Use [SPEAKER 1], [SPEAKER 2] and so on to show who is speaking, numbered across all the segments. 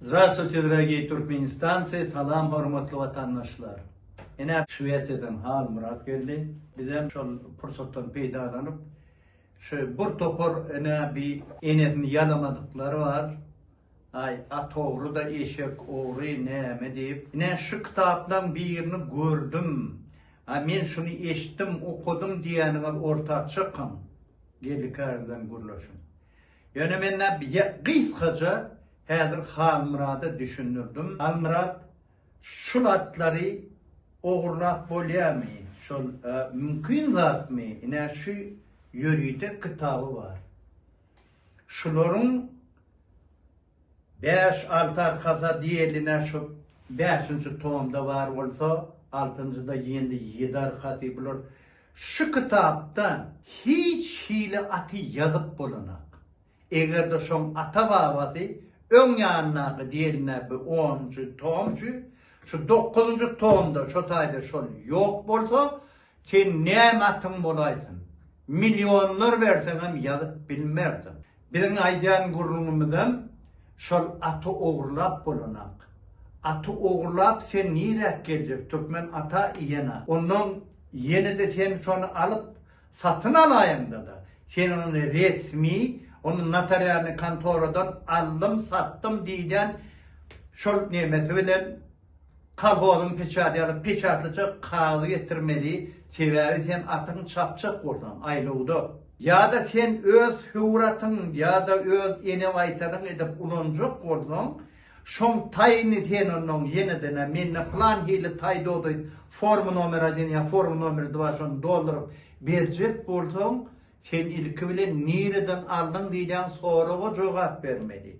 [SPEAKER 1] Zdravstvuyte dragiyy turkmenistancy Salam hormatly watandaşlar! Ine Şwesiýadan Halmyrat geldi. Bizem şol pursatdan peýdalanyp şu bir topar ine bi enesini ýalamadyklary bar. Aý atogry-da eşek ogry näme diýip. Ine şu kitaplaň birini gördüm. Aý men şuny eşitdim, okadym diýýäniňiz orta çykyň. Geldi kärden gürleşiň. Ýöne men-ä gysgaça häzir Halmyrada düşündirdim. Halmyrat, şul atlary ogurlap bolýamy? Şol mümkin zatmy? Ine şu ýörite kitaby bar. Şularyň Bäş, alty arkasa diýeline şu bäşinji tomda bar bolsa, altynjyda ýene ýedi arkasy bular. Şu kitapda hiç hili aty ýazyp bolanak. Eger-de şoň ata-babasy öň ýanyndaky diýeline bi onunjy tom şu şu dokuzynjy tomda şo taýda şol ýok bolsa, Sen näme atyň bolaýsyn? Millionlar berseňem ýazyp bilmersiň. Biziň aýdýan gürrüňimizem şol aty ogurlap bolanak. Aty ogurlap sen niräk geljek türkmen ata iýen-a. Ondan ýene-de sen şony alyp satyn alaýyňda-da, sen ony resmi, ony notarialnyý kontoradan aldym, satdym diýýän şol nemesi bilen, Kolhozyň peçaty ýa-da peçatlyja kagyz getirmeli, sebäbi sen atyň çapjak bolsaň, aýlawda. Ýa-da sen öz höwür atyň ýa-da öz ene waýtanyň edip ulanjak bolsaň, şoň taýyny sen onnoň ýene-de-nä mende plan hili taý dodaýyp, forma nomer один ýa forma nomer dva şony dolduryp berjek bolsaň, sen ilki bilen nireden aldyň diýilýän soraga jogap bermeli.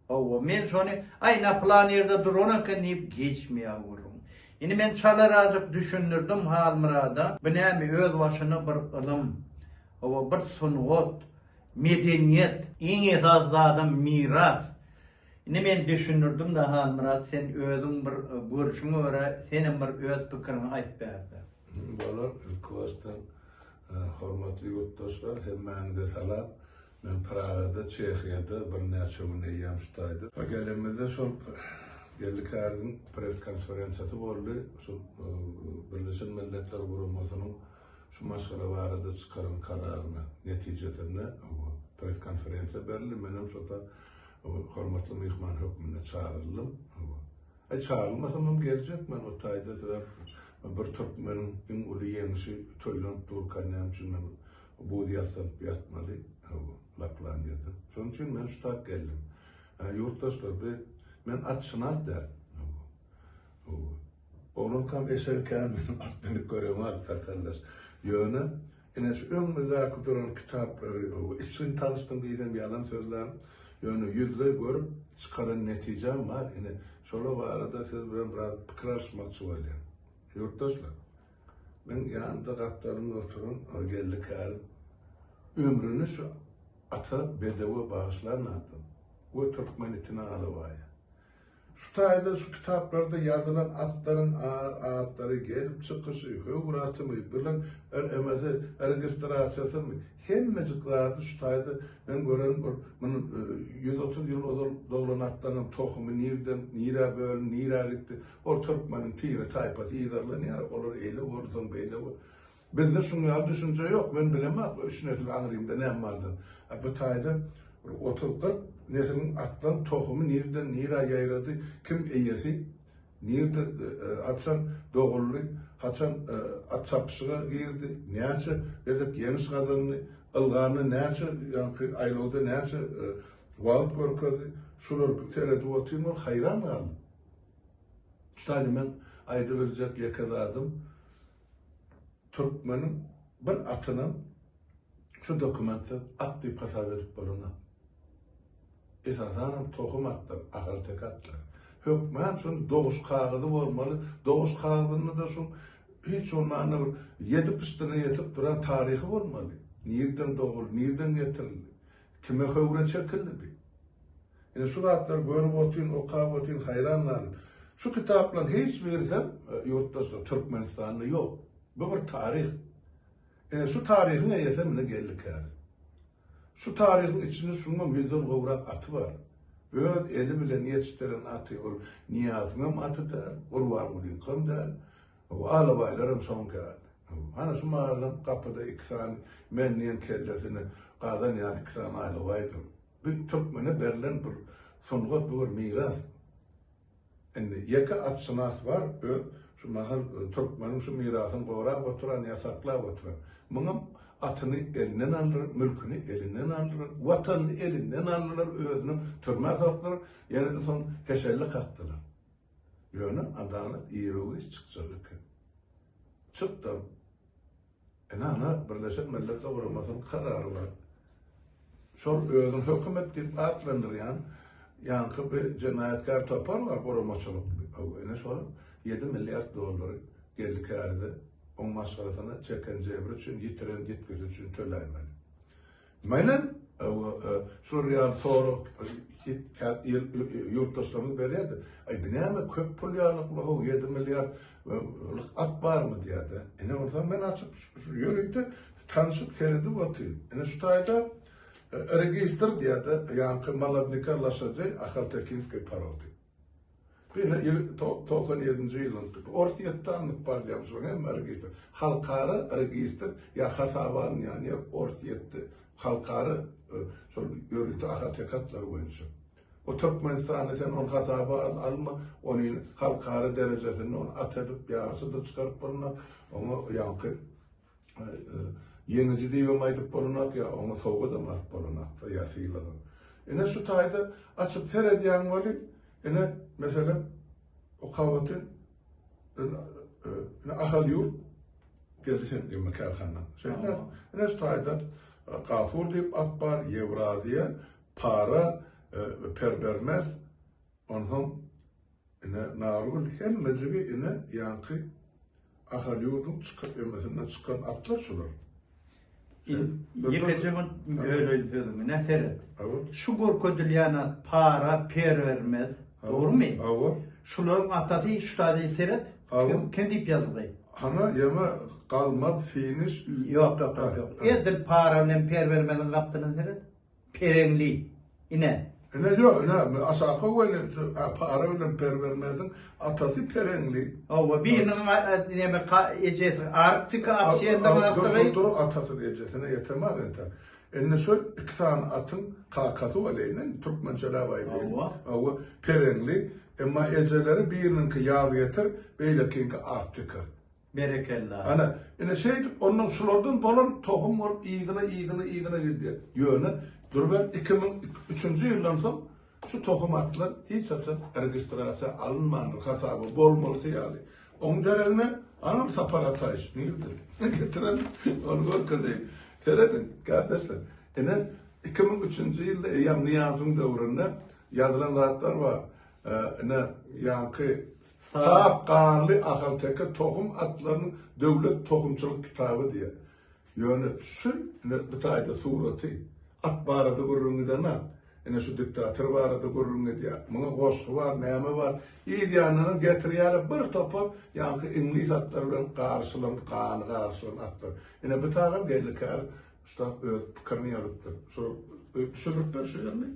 [SPEAKER 1] Hawa, men şony, Aý, ina pylan ýerde duran eken diýip geçmeýär gürrüň. Indi men çalarazjyk düşündirdim Halmyrada, bu näme, özbaşyna bir ylym. Hawa, bir sungat, medeniýet. Iň esasy zadam miras. Indi men düşündirdim-de, Halmyrat, sen özüň bir görşüňe görä, senem bir öz pikiriňi aýt bärde. Bolar,
[SPEAKER 2] ilkibaşdan hormatly ýurtdaşlar, hemmäňize salam. Men Pragada, Çehiýada birnäçe gün eýýäm ştaýdym. Gelenimizde şol Geldi Käriziň press-konferensiýasy boldy. Şu Birleşen Milletler Guramasynyň şu maşgala barada çykaran kararyna netijesinde press-konferensiýa berildi. Menem şota hormatly myhman hökmünde çagyryldym. Aý, çagyrylmasam hem geljek men o taýda sebäp bir türkmeniň iň uly ýeňşi toýlanyp durka näme üçin men Buz ýassalyp ýatmaly, hawa, Laplandiýada. Şonuň üçin men şu tak geldim. Ä, ýurtdaşlar, bi, men atşynas däl. Hawa. Hawa. Oglankam eşegi kän meniň at minip göremady, sakaldaş. Ýöne, ine, şu öňümizdäki duran kitaplary, hawa, içgin tanyşdym diýsem ýalan sözlän. Ýöne ýüzleý görüp, çykaran netijäm bar. Ine, şolar barada siz bilen biraz pikir alyşmakçy bolýan. Ýurtdaşlar! Meň ýanymda gapdalymda oturan o geldi kärim ömrüni şu ata bedewe bagyşlan adam we türkmen itine alabaýa. Şu taýda şu kitaplarda ýazylan atlaryň atlary, gelip çykyşy, höwür atymy, bilen RMZ-i, registrasiýasymy, hemmejik zady şu taýda men gören bir muny ýüz otuz ýyl ozal doglan atlaryň tohumy nirden nirä bölündi, nirä gitdi, Ol türkmeniň tire taýpasy yzarlanýar, olar eýle boldy, soň beýle boldy. Bizde şuň ýaly düşünje ýok. Men bilemok bu üç nesil aňrymda näme bardygyny. A bu taýda bir otuz-kyrk nesliň atlan tohumy nireden nirä ýaýrady, kim eýesi, nirde, haçan doguldy, haçan at çapyşyga girdi, näçe gezek ýeňiş gazandy, ylgamy näçe ýaňky aýlawda näçe wagt görkezdi, şulary seredip otyryn, bir haýran galdym. Şaýy meň aýdybiljek ýeke zadym, türkmeniň bir atynam şu dokumentsiz at diýip hasap edip bolanok. Esasanam tohum atlar, ahalteke atlar. Hökman şuny doguş kagyzy bolmaly, doguş kagyzynda-da şu hiç bolmanda bir ýedi pyşdyna ýetip duran taryhy bolmaly. Nirden doguldy, nirden getirildi, kime höwre çekildi diýip. Ine şu zatlary görüp otyryn, okap otyryn, haýran galyp. Şu kitaplaryň hiç birisi hem, ýurtdaşlar, Türkmenistanda ýok. Bu bir taryh. Ine şu taryhyň eýesi hem ine Geldi käriz. Şu taryhyň içinde şunuň hem ýüzden gowrak aty bar. Öz eli bilen ýetişdiren aty. Ol Nyýazyň hem aty däl, Gurbangulynyňky hem däl. Alabaýlar hem şonuň käri. Hany şu mahalam gapyda iki sany men diýen kellesini gazan ýaly iki sany alabaý dur. Biz türkmene berlen bir sungat bu bir miras. Indi ýeke atşynas bar öz şu mahal türkmeniň şu mirasyny gorap oturan ýasaklap oturan. Muňam atyny elinden aldylar, mülküni elinden aldylar, watanyny elinden aldylar, özüni türmä sokdular, ýene-de soň heşelle kakdylar. Ýöne adalat irigüýç çykjak eken. Çykdam. Ynha, Birleşen Milletler Guramasynyň karary bar. Şol özüni hökümet diýip atlandyrýan ýaňky bir jenaýatkär topar bar, guramaçylyk. Ine şol ýedi milliard dollary geldi kärde, oň maşgalasyna çeken jebri üçin, ýitiren ýitgisi üçin töläýmeli. Menem şular ýaly sorag ýurtdaşlarymyz berýärdi. Aý bu näme köp pul ýalyk-la-how, ýedi milliard lyk at barmy diýýärdi. Ine onsoň men açyp ýörite tanşyp seredip otyryn. Ine şu taýda registr diýýärdi, ýaňky Molodnyka loşadei Ahaltekinskiý porody. Ýöne ýyl togsan ýedinji ýylyň Orsýetde alnyp barylýan şularyň hemme registr, halkara registr ýa hasaba alynýan ýer Orsýetde halkara şol ýörite ahalteke atlary boýunça. O Türkmenistanda sen ony hasaba al, alma, ony halkara derejesinde ony at edip, ýaryşa-da çykaryp bolmaz, oňa ýaňky Ýeňiji diýibem aýdyp bolanok, ýa oňa sowgadam alyp bolanokdyr, ýa sylagam. Ine şu taýda açyp seredýäň welin, ine, meselem, Okabatyn ine Ahal ýurt geldi sen gemi kärhana. Şeýle, ine şu taýda Gafur diýip at bar, Ýewraziýa, para, perbermes, onsoň Ine, Nargül hemmejigi ine ýaňky Ahalýurduň çykyp emesinden çykan atlar şular. Sen bir Ýekeje
[SPEAKER 1] bir Ha. böleýin sözüňi, ne seret. Hawa. Şu görkezilýän at para, per bermez. Hawa. Dogrumy? Hawa. Şularyň atasy şu taýda seret. Hawa. Kim, kim diýip ýazyldy? Hana ýaňa
[SPEAKER 2] galmaz finiş. Ýok, ýok, ýok, ýok.
[SPEAKER 1] Ha. Edil para bilen per bermeziň gapdyna seret. Pereňli, ine. Ine, ýok,
[SPEAKER 2] ine, aşaky weli para bilen per bermezin, atasy pereňli. Hawa,
[SPEAKER 1] biriniň neme, ejesi Arktika abşendaňakdygy. Dur, atasyny, ejesine
[SPEAKER 2] ýeteman enter. Indi şol iki sany atyň kakasy weli, türkmençeläp aýdaýyn. Hawa. Pereňli, emma ejeleri biriniňki ýazgetir, beýlekiňki Arktika. Berekella.
[SPEAKER 1] Ana, ine
[SPEAKER 2] şeýdip, ondan şulardan bolan tohum bolup yzyna, yzyna, yzyna gidýär. Ýöne, dur ber, iki müň üçünji ýyldan soň şu tohum atlar hiç haçan registrasiýa alynmandyr, hasaba bolmalysy ýaly. Oň deregine, anam Sapar Ataýew, nirde? Getiren, ony görkezeýin. Serediň, kardeşler, ine, iki müň üçünji ýylda eýýäm Nyýazyň döwründe ýazylan zatlar bar. Ine, ýaňky Sap ganly ahalteke tohum atlarynyň döwlet tohumçylyk kitaby diýer. Ýöne şu ine bu taýda suraty, at barada gürrüň gidenok. Ine şu diktator barada gürrüň gidýär. Muňa goşgy bar, näme bar. Yz ýanyndan getirýärler bir topar ýaňky iňlis atlary bilen garyşylan, gany garyşylan atlar. Ine bu taýdan belli kär ussat öz pikirini ýazypdyr. Şol düşürip ber şu ýerini.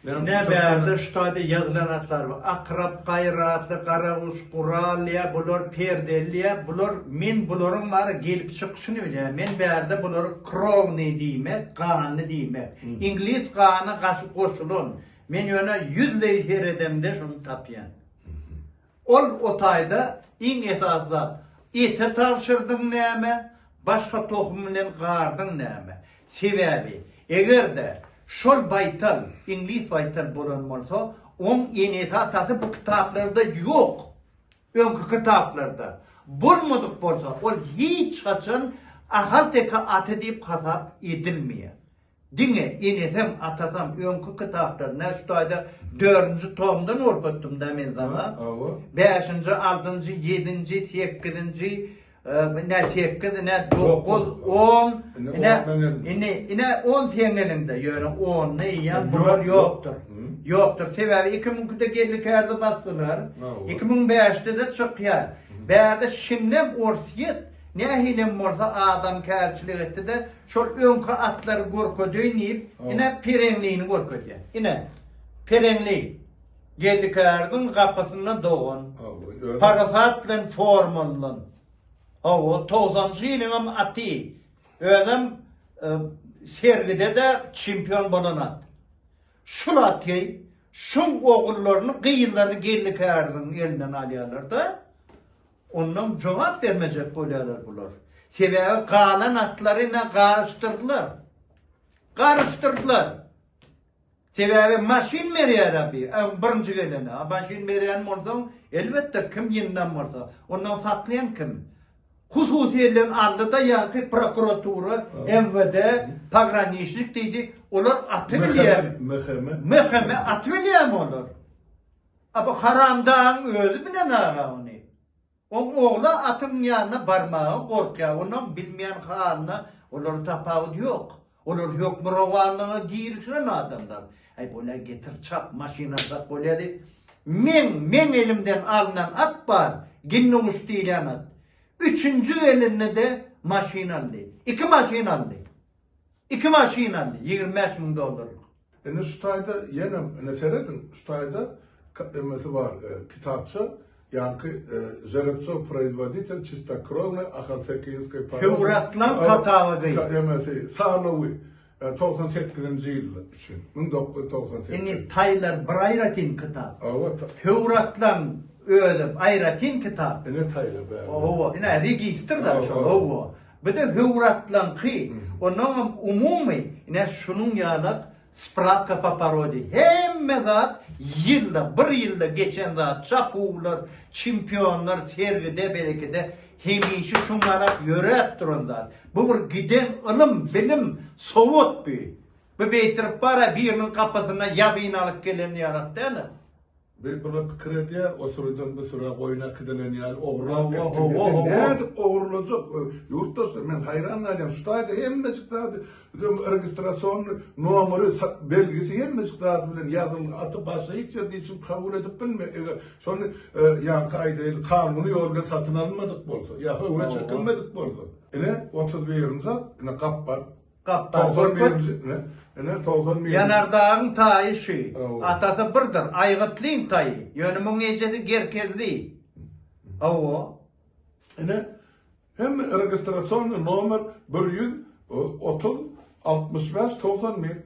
[SPEAKER 2] Ine
[SPEAKER 1] bärde şu taýda ýazylan atlar bar. Akrap, Gaýratly, Garaguş, Gural, ýa bular Perdeli, ýa bular men bularyň bary gelip çykyşyny bilýän. Men bärde bulary krownyý diýmek, ganly diýmek. Iňlis gana goşulan. Men ýöne ýüzleý seredemde şuny tapýan. Ol o taýda iň esasy zat, ete tabşyrdyň näme, başga tohum bilen gardyň näme. Sebäbi, eger-de şol baýtal, iňlis baýtal bolan bolsa, oň enesi-atasy bu kitaplarda ýok, öňki kitaplarda. Bolmadyk bolsa, ol hiç haçan ahalteke aty diýip hasap edilmeýär. Diňe enesem, atasam öňki kitaplar, nä şu taýda dördünji tomdan gorkutdym-da men saňa. Hawa. Bäşinji, altynjy, ýedinji, sekizinji, e, nä sekiz, nä dokuz, on, Indi ine, on meniň elimde. ine, ine on seň eliňde, ýöne ony eýýäm bular Ýok, ýokdur. ýok. Hı. Ýokdur, sebäbi iki müňkide geldi kärde basdylar, Hawa. iki müň bäşde-de çykýar. Bärde şindem Orsýet nähilem bolsa adamkärçilik etdi-de, Şol öňki atlary görkezeýin diýip, ine, pereňlini görkezýär. Ine, pereňli. Geldikäriziň gapysynda dogan. Parasat
[SPEAKER 2] bilen
[SPEAKER 1] formalylan. Hawa, togsanjy ýylyňam aty. Özem sergide-de çempion bolan at. Şul aty, şuň ogullaryny, gyzlaryny Geldikäriziň elinden alýarlar-da. Ondan jogap bermejek bolýarlar bular. Sebäbi galan atlary na garyşdyrdylar. Garyşdyrdylar. Sebäbi maşyn berýär abi, öň birinji gelene. A maşyn berýän bolsaň, elbetde kim ýyndam bolsa, ondan saklaýan kim? Hususy elden aldy-da ýaňky prokuratura, MWD, pograniçnik diýdi, olar aty bilýär. MHM. MHM aty bilýärmi olar? A bu haramdagyň özi bilenara ony. Oň ogly atyň ýanyna barmaga gorkýar, onuň bilmeýän halyna olara tapawut ýok. Olar hökmürowanlyga girişen adamlar. Äý, bol-ä, getir, çap, maşyn alsak bolýady. Meň, meň elimden alnan at bar, Ginnuguş diýlen at. Üçünji gelende-de maşyn aldy. Iki maşyn aldy. Iki maşyn aldy ýigrimi bäş müň dollarlyk. Indi şu taýda
[SPEAKER 2] ýenem indi serediň şu taýda emesi bar kitapça ýaňky Žerepçow proizwoditel çistokrownay ahaltekinskay poroda Hewratlan
[SPEAKER 1] katalygy. Emesi
[SPEAKER 2] sanawy togsan sekizinji ýyl üçin müň dokuz ýüz togsan sekiz. Indi taýlar
[SPEAKER 1] bir aýratyn kitap. Hawa ta. Hewratlan özi aýratyn kitap. Ine taýlar bäri.
[SPEAKER 2] Hawa ine registrda
[SPEAKER 1] şol hawa. Bir-de höwratlaňky, onuňam umumy, ine, şunuň ýalak Spravka po porodi. Hemme zat ýylda, bir ýylda geçen zat, çapuwlar, çempionlar, sergide, berekede, hemişe şuň ýalak ýöräp duran zat. Bu bir giden ylym, bilim, sowat bu. Bu beýtirip bar-a, biriniň gapysyna ýabyn alyp gelen ýalak däl-ä. Bir bula
[SPEAKER 2] pikir edýär, o sürüden bu süre goýun äkidilen ýaly ogurlap gitdi diýse,
[SPEAKER 1] nädip ogurlajak?
[SPEAKER 2] Ýurtdaşlar, men haýran galýan, şu taýda hemmejik zady, registrasiýony nomeri, belgisi hemmejik zady bilen ýazyl, aty başga hiç ýerde hiç kim kabul edip bilmeýär. Eger şony, ýaňky aýdaýly, kanuny ýol bilen satyn alynmadyk bolsa, ýa höwra çekilmedik bolsa. Ine, otuz birinji zat, ine gap bar.
[SPEAKER 1] Gapdal
[SPEAKER 2] Görkut, Ýanardagyň taýy
[SPEAKER 1] şü, atasy birdir, Aýgytlyň taýy, ýöne muň ejesi Gerkezli. Hawa. Ine,
[SPEAKER 2] hemme registrasýony nomer bir ýüz otuz altmyş bäş togsan bir.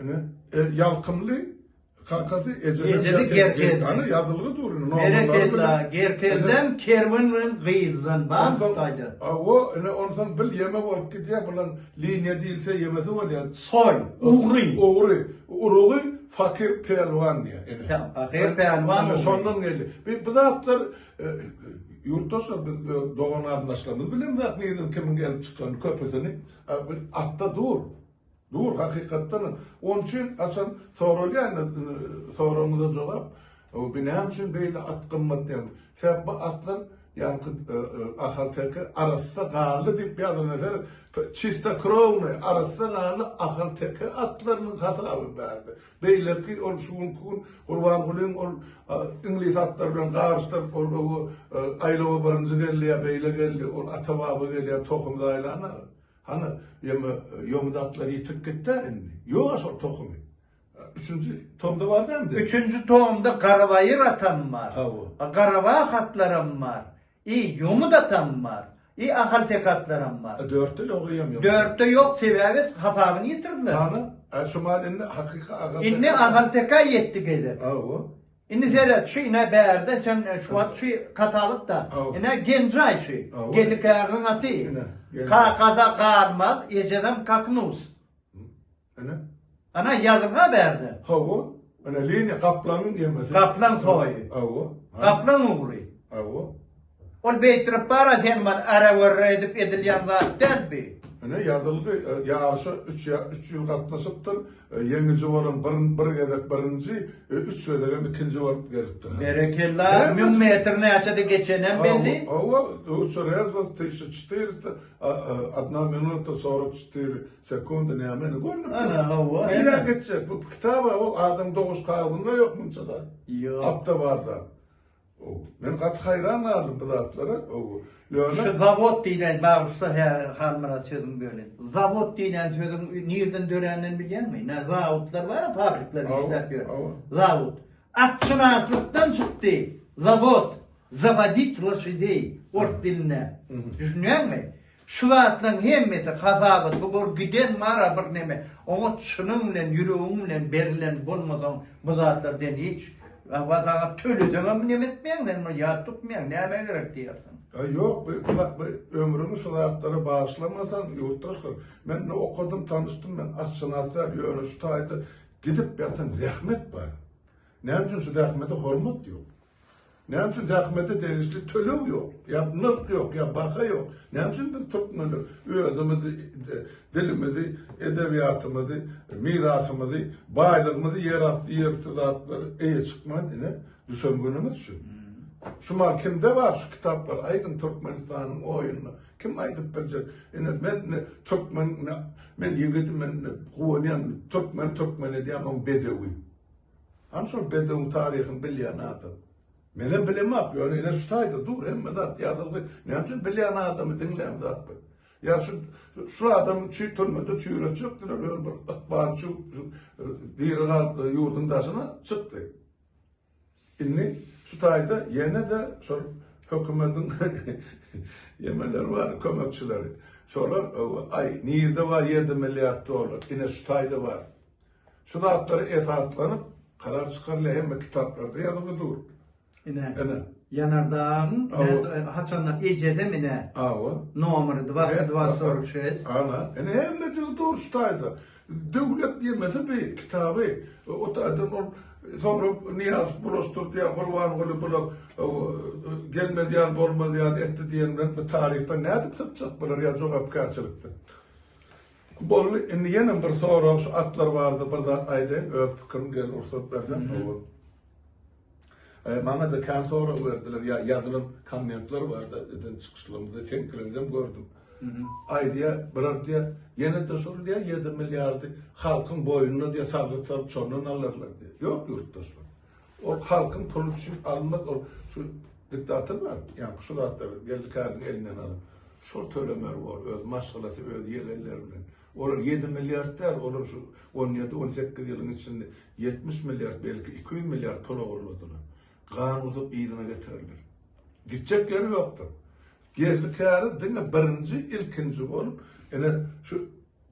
[SPEAKER 2] Ine, e, ýalkymly kakasy ejeden Ejedi
[SPEAKER 1] gerkezdi. Ana ýazylgy dur indi.
[SPEAKER 2] Berekella,
[SPEAKER 1] gerkezden, kerwen bilen gyzdan bar gaýda. Awa, ine onsoň
[SPEAKER 2] bil ýeme bolup gidýär bulan liniýa diýilse ýemesi bolýar. Soý, ugry.
[SPEAKER 1] Ugry, urugy
[SPEAKER 2] fakir pälwan diýýär. Ine. Fakir pälwan.
[SPEAKER 1] Ine şondan geldi. Bu
[SPEAKER 2] zatlar e, ýurtdaşlar biz dogan-garyndaşlarymyz bilemzok nirden kimiň gelip çykan köpüsini e, atda dur. Dur hakykatdanam on üçin haçan soralýan soragyňyza jogap bu näme üçin beýle at gymmat diýen sebäp bu atlar ýaňky ahal teke arassa gally diýip ýazylan ýer çista krowny arassa gally ahal teke atlarynyň hasaby bärde beýleki ol şu günki gün gurbangulyň ol iňlis atlary bilen garyşdyryp ol aýlawa birinji geldi ýa beýle geldi ol ata baba gelýär tohum zaýlana. Hany, ýöne ýomy datlar ýitirip gitdi indi. Ýok-a şol tohumy. Üçünji tomda bar däl mi? Üçünji tomda
[SPEAKER 1] Garabaýyr atam bar. Hawa. Garaba hatlaram bar. I ýomy datam bar. I ahalteke atlaram bar. Dörtde ýok eýýäm ýomy.
[SPEAKER 2] Dörtde ýok sebäbi
[SPEAKER 1] hasabyny ýitirdiler. Hany, şumal
[SPEAKER 2] indi hakyky ahalteke. Indi ahalteke
[SPEAKER 1] ýetdi gezek. Hawa. Indi seret şu ine bärde sen şu wagt şu katalogda ine Genjaý şu Gelikäriniň aty. Kakada Garmaz, ejedem Kaknus. Ine. Ana ýazyga bärde. Hawa. Ine
[SPEAKER 2] liniýa gaplaň ýemesi. Gaplaň soýy.
[SPEAKER 1] Hawa. Gaplaň ugry. Hawa. Ol beýtirip bara sen man arawerre edip edilýän zat däl bi. Ine ýazylgy
[SPEAKER 2] ýaryşa üç üç ýyl gatnaşypdyr. Ýeňiji bolan bir bir gezek birinji, üç gezegem ikinji bolup gelipdir. Berekella, müň
[SPEAKER 1] metr näçede geçenem belli? Hawa, üçe
[SPEAKER 2] rezbas tyşy çtyrysta, adna minuta sorok çtyry sekundy nämeni görnüp. Ana hawa. Nirä
[SPEAKER 1] geçjek bu
[SPEAKER 2] kitaba o adam doguşy kagzynda ýok munça
[SPEAKER 1] zat.
[SPEAKER 2] Ýok. Atda bar zat. Men gaty haýran galdym bu zatlara. Ýöne şu
[SPEAKER 1] zawod diýlen bagşysa hä Halmyrat sözüňi bölin. Zawod diýlen sözüň nirden döränini bilýäňmi? Nä zawodlar bar, fabrikler işläp ýör. Zawod. Atşynaslykdan çykdy. Zawod. Zawodit loşidey. Ors dilinde. Düşünýäňmi? Şu zatlaň hemmesi hasabat bu gör giden mara bir neme oňa çynyň bilen ýüregiň bilen berlen bolmasaň bu zatlar sen hiç wa saňa töleseňem neme etmeýäň sen muny ýat tutmaýaň nämä gerek diýersiň. Ýa ýok bu bu
[SPEAKER 2] bu ömrüňi şu zatlara bagyşlamasaň ýurtdaşlar men indi okadym tanyşdym men atşynas däl ýöne şu taýda gidip ýatan zähmet bar näme üçin şu zähmete hormat ýok. Näme üçin zähmete degişli töleg ýok? Ýa nyrh ýok, ýa baha ýok. Näme üçin biz türkmenler özümiz dilimizi, edebiýatymyzy, mirasymyzy, baýlygymyzy, ýerasty, ýerüsti zatlary eýe çykman ine düşen günümiz şu. Şu mal kimde bar şu kitaplar? Aýdyň Türkmenistanyň oýuny. Kim aýdyp biljek? Ine men ne türkmen, men ýigit, men guwanýan türkmen, türkmen edýän on bedewi. Hany şol bedewiň taryhyny bilýän adam? Menem bilemok, ýöne ine şu taýda dur, hemme zat ýazylgy. Näme üçin bilýän adamy diňlän zat bu? Ýa şu şu adam çüý türmede çüýretjekdiler, ýöne bir ykbal şu diri galyp ýurduň daşyna çykdy. Indi şu taýda ýene-de şol hökümetiň ýemeleri bar, kömekçileri. Şolar aý nirde bar 7 milliard dollar? Ine şu taýda bar. Şu zatlara esaslanyp karar çykarylýar, hemme kitaplarda ýazylyp dur. Ine. Ine.
[SPEAKER 1] Ýanardagyň haçanda ejedem ine. Awa. Nomer 2246. Ana, ine hemme
[SPEAKER 2] dil dur şu taýda. Döwlet diýmesi bi kitaby o taýdan ol soňra Niýaz bulaşdyrdy ýa Gurbanguly bula gelmez ýaly bolmaz ýaly etdi diýen bilen bu taryhdan nädip sypjak bular ýa jogapkärçilikden. Boldy, indi ýene bir sorag şu atlar barada bir zat aýdaýyn, öz pikirim gel rugsat berseň owal. Maňada kän sorag berdiler, ýa ýazylan kommentler barda eden çykyşlarymda seňkilerden gördüm. Aýdýa, bir aýdýa, ýene-de şol diýýä ýedi milliardy halkyň boýnuna diýýä salgyt salyp şondan alarlar diýýä. Ýok ýurtdaşlar. Ol halkyň puly üçin alynmaz ol şu diktator bar ýaňky şu zatlar geldi käriniň elinden alyp şol tölemeli bor öz maşgalasy öz ýegenleri bilen olar ýedi milliard däl olar şu on ýedi on sekiz ýylyň içinde ýetmiş milliard belki iki ýüz milliard pul ogurladylar gan gusup yzyna getirerler gitjek ýeri ýokdur geldi käri diňe birinji ilkinji bolup ene şu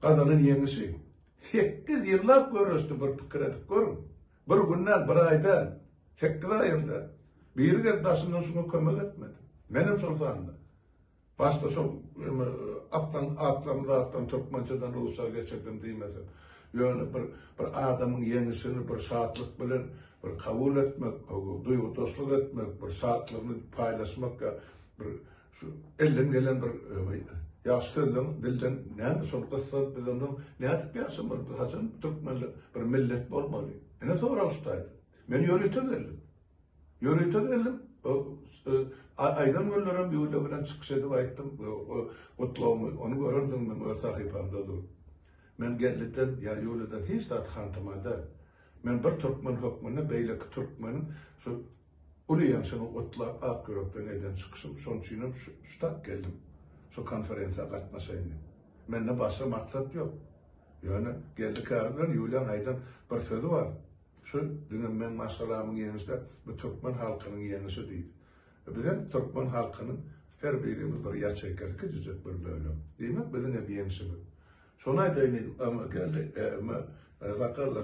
[SPEAKER 2] gazanan ýeňişi sekiz ýyllap göreşdi bir pikir edip görüň Bir gün däl, bir aý däl, sekiz aýam däl. Biri gelip daşyndan şuňa kömek etmedi. Menem şol sanda. Başda şol ýöne atdan atdan zatdan türkmençeden rusça geçirdim diýmesem. Ýöne bir bir adamyň ýeňişini bir şatlyk bilen bir kabul etmek, duýgudaşlyk etmek, bir şatlygyny paýlaşmak ýa bir Şu elden gelen bir ýaş sözleň dilden näme şol gyssa biz ondan nädip ýaşamaly biz haçan türkmenler bir millet bolmaly ene soralyşdaýda men ýörite geldim ýörite geldim aýdan günlerim ýüwle bilen çykyş edip aýtdym gutlagymy ony görensiň men öz sahypamda dur men gelliden ýa ýüwleden hiç zat hantymada men bir türkmen hökmünde beýleki türkmeniň şu Uly ýaşymy gutlap ak ýürekden eden çykyşym şoň üçinem şutak geldim şu konferensiýa gatnaşaýyn diýip. Mende başga maksat ýok. Ýöne Geldi käri bilen Ýuliýaň aýdan bir sözi bar. Şu diňe meň maşgalamyň ýeňişi däl, bu türkmen halkynyň ýeňişi diýdi. Bizem türkmen halkynyň her birimiz bir ýaçeýkasy kiçijek bir bölek. Diýmek biziňem ýeňşimiz. Şony aýdaýyn diýdim. Geldi, sakgalla.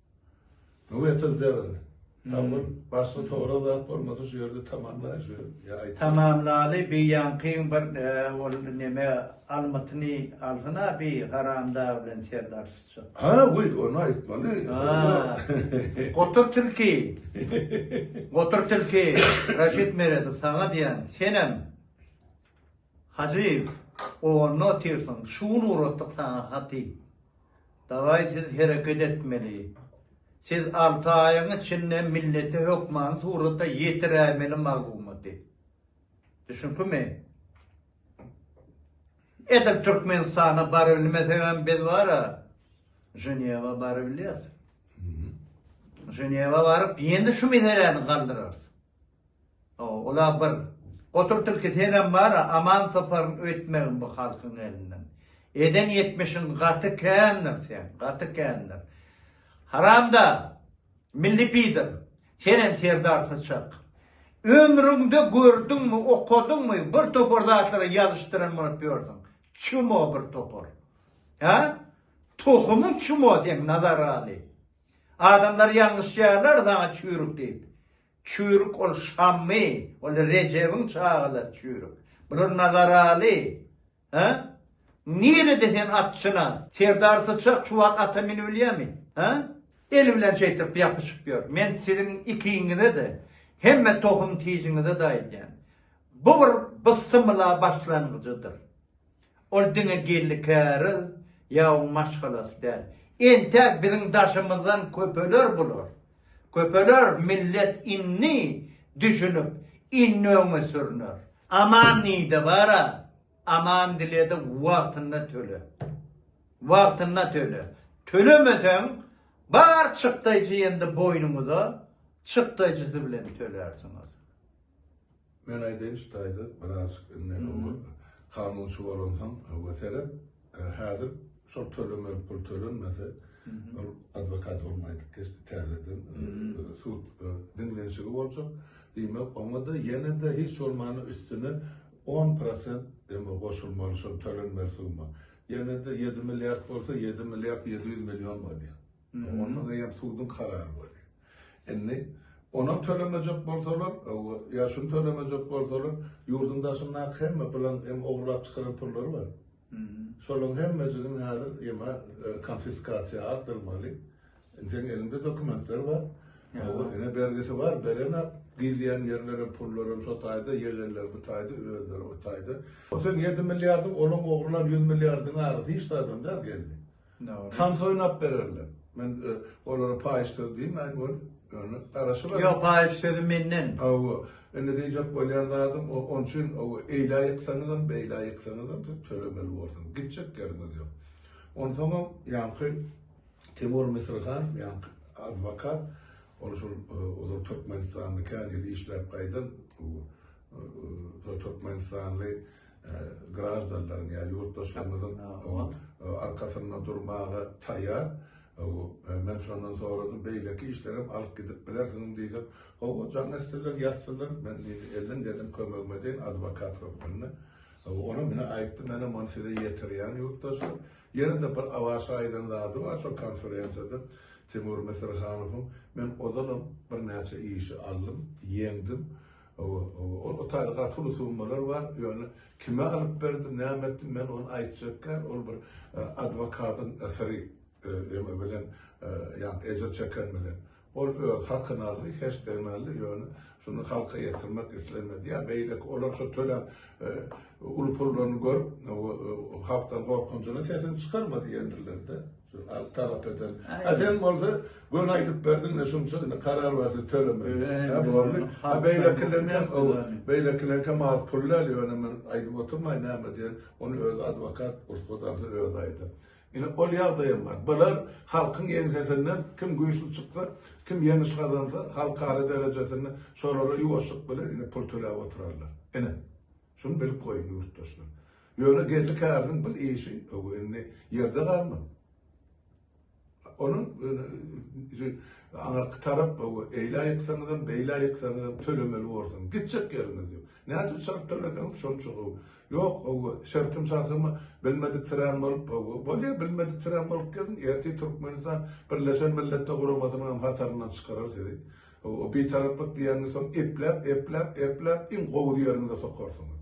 [SPEAKER 2] Öňe tyzjagyr. Sabyr. Başga togra zat bolmasa şu ýerde tamamlaýyn şu ýa aýt. Tamamlaly
[SPEAKER 1] bi ýaňkyň bir ol neme almytyny alsana bi haramdag bilen serdar syçak. Ha we ony
[SPEAKER 2] aýtmaly.
[SPEAKER 1] Gotur tilki. Gotur tilki Raşit Meredow saňa diýýän senem. Hajyýew, Onda otyrsyň, şu gün ugratdyk saňa haty. Daway siz hereket etmeli. Siz alty aýyň içinde millete hökmany suratda ýetiräýmeli maglumaty. Düşünikmi? Edil Türkmenistana barybilmesegem biz bara Ženewa barybilýäs. Ženewa baryp ýene şu meseläni galdyrarys. Ola bir. Gotur tilki senem bara aman soparyň öýtmegin bu halkyň elinden. Eden ýetmişiň gaty kändir sen, gaty kändir. Haramda, milli pider, senem serdar syçak. Ömrüňde gördüňmi, okadyňmy bir topar zatlary ýazyşdyran bolup ýörsüň. Çumo bir topar. Hä? Tohumyň çumo seň Nazargaly. Adamlar ýalňyşýarlar saňa çüýrük diýip. Çüýrük ol Şammy, ol Rejebiň çagalary çüýrük. Bular Nazaraly. Hä? Nirede sen atçynas? Serdar Syçak şu wagt ata minibilýärmi? Hä? Eli bilen şeýtdirip ýapyşyp ýör. Men siziň ikiňize-de, hemme tohum-tijiňize-de aýdýan. Bu bir bysymyla başlangyjydyr. Ol diňe gelni-käriz ýagyň maşgalasy däl. Entäk biziň daşymyzdan köpeler bular. Köpeler millet indi düşünip, indi öňe sürüner. Aman diýdi, bar-a, aman diledi, wagtynda töle. Wagtynda töle. Tölemeseň, bar çykdaýjy ýendi boýnuňyza, çykdaýjysy bilen tölersiňiz.
[SPEAKER 2] Men aýdaýynçy daýza, birazjyk indi oňa kanunçy bolansoň we seret, häzir şol tölemeli pul tölenmese, ol adwokat ogluň aýdyp geçdi, täzeden sud diňlenişigi boljak. Diýmek, oňa-da ýene-de hiç bolmanda üstüne on prosent indi goşulmaly şol tölenmeli summa. Ýene-de ýedi milliard bolsa, ýedi milliard ýedi ýüz million bolýar. Onda eýýäm suduň karary bolýar. Indi onam tölemejek bolsalar, ýa şuny tölemejek bolsalar, ýurduň daşyndaky hemme pylan hem ogurlap çykaran pullary bar. Şolaryň hemmejigini häzir ýa-ma konfiskasiýa aldyrmaly. Indi seniň eliňde dokumentler bar. Ýa-da ine bergisi bar, berenak. Gidýän ýerlerem, pullaram şo taýda, ýegenleri bu taýda, özleri o taýda. Ol seniň ýedi milliardyň, olaň ogurlan ýüz milliardyň arasy hiç zadam däl, geldi. Tans oýnap bererler. Men olara paýyş söz diýmäýin weli, ýöne garaşylar. Ýok, paýyş sözi
[SPEAKER 1] menden. Hawa, indi
[SPEAKER 2] diýjek bolýan zadym, onuň üçin hawa, eýle aýyksaňyzam, beýle aýyksaňyzam siz tölemeli borsuňyz. Gitjek ýeriňiz ýok. Onsoňam ýaňky Timur Misrihanow, ýaňky adwokat, ol şol ozal Türkmenistanda kän ýyl işläp gaýdan Türkmenistanly graždanlaryň ýa ýurtdaşlarymyzyň arkasynda durmaga taýýar. Men şondan soradym, beýleki işlerem alyp gidip bilersiňmi diýdim. Hawa, jaň etsinler, ýazsynlar, men diýdi, elden gelen kömegimi edeýin adwokat hökmünde. Olam ine aýtdym, menem ony size ýetirýän ýurtdaşlar. Ýene-de bir Awaşa aýdan zady bar şol konferensiýada Timur Misirhanowyň, men ozalam birnäçe işi aldym, ýeňdim. Hawa, hawa, ol otagda gaty uly summalar bar, ýöne kime alyp berdim, näme etdim, men ony aýtjak däl, ol bir adwokadyň syry, eme bilen, ýagny ejir çeken bilen. Ol öz hakyny aldy, heşdegini aldy, ýöne şuny halka ýetirmek islemedi, ýa beýleki, olar şo tölän uly pullaryny görüp, halkdan gorkunjyna sesini çykarma diýendirler-de. Talap eder. Ha sen bolsa göni aýdyp berdiň de şunça indi karar bar siz tölemäň. Ha boldy. Ha beýlekileň hem o beýlekileň hem az pul däl ýöne men aýdyp oturmaýyn näme diýen ony öz adwokat rugsat alsa özi aýdar. Ine ol ýagdaý hem bar. Bular halkyň ýeňsesinden kim güýçli çyksa kim ýeňiş gazansa halkara derejesinde şolara ýuwaşlyk bilen indi pul töläp oturarlar. Ine. Şuny bilip goýuň ýurtdaşlar. Ýöne Geldi Käriziň bil işi ög indi ýerde galmaz. Onuň aňyrky tarap ög eýlä ýyksaňyzam, beýlä ýyksaňyzam tölemeli borsuň. Gitjek ýeriňiz ýok. Näçe çalt töleseňiz şonça gowy. Ýok ög şertim şartymy bilmediksirän bolup ög bolýa bilmediksirän bolup geziň ertir Türkmenistan Birleşen Milletler Guramasynyňam hataryndan çykarar sizi. O bitaraplyk diýenini soň epläp, epläp, epläp iň gowy ýeriňize sokarsyňyz.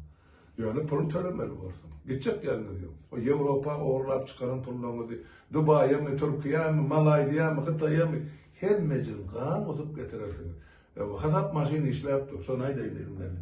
[SPEAKER 2] Ýöne pulyny tölemeli borsuňyz. Gitjek ýeriňiz ýok. O Ýewropa ogurlap çykaran pullaryňyzy Dubaýamy, Türkiýämi, Malaýziýamy, Hytaýamy hemmejigin gan gusup getirersiňiz. Hasap maşyny
[SPEAKER 1] işläp
[SPEAKER 2] dur, şony aýdaýyn eziz
[SPEAKER 1] mella.